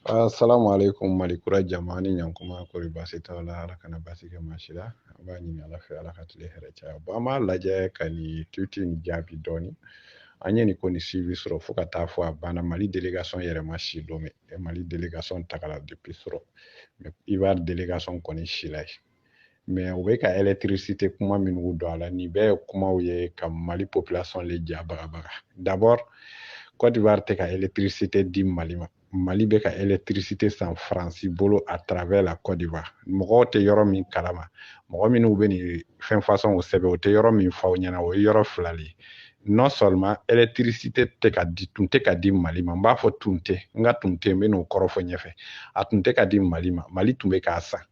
Assalamu alaikum malikura jama ni ɲankuma kori basi t'aw la ala kana basi kɛ maa si la an b'a ɲini ala fɛ ala ka tile hɛrɛ caya bon an b'a lajɛ ka nin titre nin jaabi dɔɔni an ye nin ko nin suivi surɔ fo ka taa fɔ a banna mali delegation yɛrɛ ma si lomé mali delegation tagala depuis surɔ mais ivoire delegation kɔni sila yen mais u bɛ ka électricité kuma minnu don a la nin bɛɛ ye kumaw ye ka mali population le ja bagabaga d'abord cote d'ivoire tɛ ka électricité di mali ma mali bɛ ka électricité san faransi bolo à travers la cote d'ivoire mɔgɔw tɛ yɔrɔ min kalama mɔgɔ minnu bɛ nin fɛn façon o sɛbɛn u tɛ yɔrɔ min fɔ aw ɲɛna o ye yɔrɔ fila le ye non seulement électricité tɛ ka di tun tɛ ka di mali ma n b'a fɔ tun tɛ n ka tun tɛ n bɛ n'o kɔrɔ fɔ ɲɛfɛ a tun tɛ ka di mali ma mali tun bɛ k'a san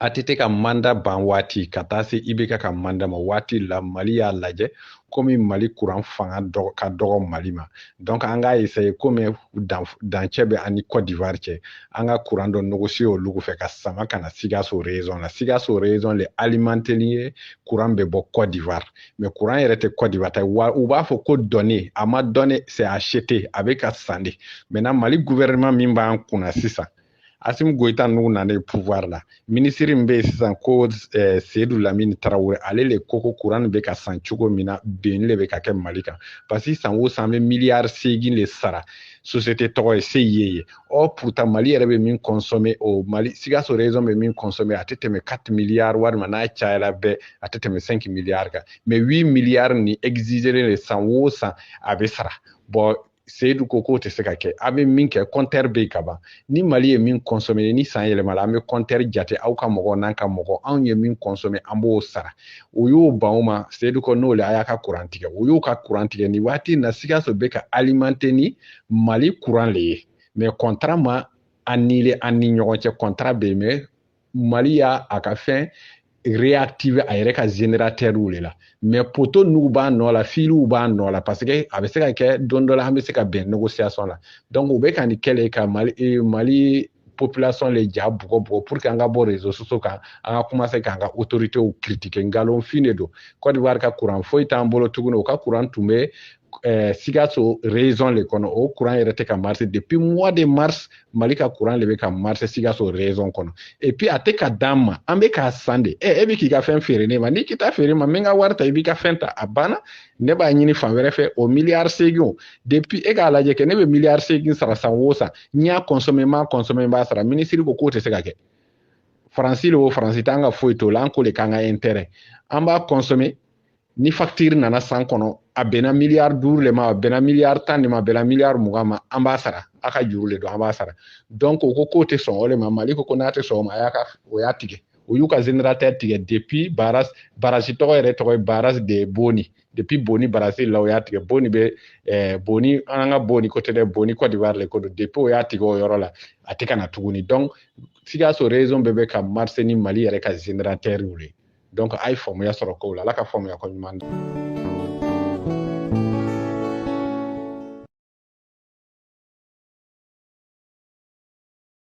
ATT ka mandat ban waati ka taa se IBK ka mandat ma waati la Mali y'a lajɛ komi Mali kuran fanga dɔgɔ ka dɔgɔ Mali ma donc an k'a essayer komi dan dancɛ bɛ an ni Cote d'Ivoire cɛ an ka kuran dɔ négocier olu fɛ k'a sama ka na Sikaso région na Sikaso région le alimenteli ye kuran bɛ bɔ Cote d'Ivoire mais kuran yɛrɛ tɛ Cote d'Ivoire ta wa u b'a fɔ ko donné a ma donné c'est acheté a bɛ ka san de maintenant Mali gouvernement min b'an kunna sisan Asimi Goyita ninnu nana pouvoir la minisiri min bɛ yen sisan ko eh, Seyidu Lamini Tarawele ale le ko ko kuran bɛ ka san cogo min na binni le bɛ ka kɛ Mali kan parce que san o san an bɛ miliyari seegin le sara société tɔgɔ ye CIE ye ɔ pourtant Mali yɛrɛ bɛ min consommer o Mali Sikaso région bɛ min consommer a tɛ tɛmɛ 4 miliyari walima n'a cayala bɛɛ a tɛ tɛmɛ 5 miliyari kan mais 8 miliyari nin exigelen de san o san a bɛ sara bon seyidu ko k'o tɛ se ka kɛ a bɛ min kɛ kɔntɛri bɛ yen ka ban ni mali ye min kɔnsɔmɛ ni san yɛlɛmala an bɛ kɔntɛri jate aw ka mɔgɔ n'an ka mɔgɔ anw ye min kɔnsɔmɛ an b'o sara u y'u ban o ma seyidu ko n'o le a y'a ka kuran tigɛ u y'u ka kuran tigɛ nin waati in na sikaso bɛ ka alimante ni mali kuran le ye mɛ kɔntara ma anile an ni ɲɔgɔn cɛ kɔntara bɛ yen mɛ mali y'a a ka fɛn réactiver a yɛrɛ ka générateurw le la mais poto ninnu b'a nɔ la filiw b'a nɔ la parce que a bɛ se ka kɛ don dɔ la an bɛ se ka bɛn négociation la donc u bɛ ka nin kɛ le ka mali eh, mali population le ja bugɔ bugɔ pour que an ka bɔ réseaux sociaux kan an ka commencer k'an ka autorités critiquer nkalonfin de don Côte d'Ivoire ka courant foyi t'an bolo tuguni u ka courant tun bɛ eh, Sikaso région le kɔnɔ o courant yɛrɛ tɛ ka marcher depuis mois de mars Mali ka courant le bɛ ka marcher Sikaso région kɔnɔ et puis a tɛ k'a d'an ma an bɛ k'a san de ɛ e bɛ k'i ka fɛn feere ne ma n'i k'i t'a feere n ma n bɛ n ka wari ta i b'i ka fɛn ta a banna ne b'a ɲini fan wɛrɛ fɛ o miliyari seegin depuis e k'a lajɛ kɛ ne bɛ miliyari seegin sara san o san n y'a consommer n m'a consommer n b'a sara minisiri ko k'o tɛ se ka kɛ faransi le o faransi t'an ka foyi t'o la an ko le k'an ka intérêt an b'a consommer ni facture nana san kɔnɔ a bɛnna miliyari duuru le ma a bɛnna miliyari tan de ma a bɛnna miliyari mugan ma an b'a sara a ka juru le don an b'a sara donc o ko k'o tɛ sɔn o le ma mali ko ko n'a tɛ sɔn o ma a y'a ka o y'a tigɛ o y'u ka générateur tigɛ depuis barrage barrage tɔgɔ yɛrɛ tɔgɔ ye barrage de boni depuis boni barrage la o y'a tigɛ boni bɛ eh, boni an ka boni ko tɛ dɛ boni côte d'ivoire le ko don depuis o y'a tigɛ o yɔrɔ la a tɛ ka na tuguni donc sikaso région bɛɛ bɛ ka marcher ni mali yɛrɛ ka générateur ye donc a ye faamuya sɔrɔ kow la ala ka faamuya ko ɲuman di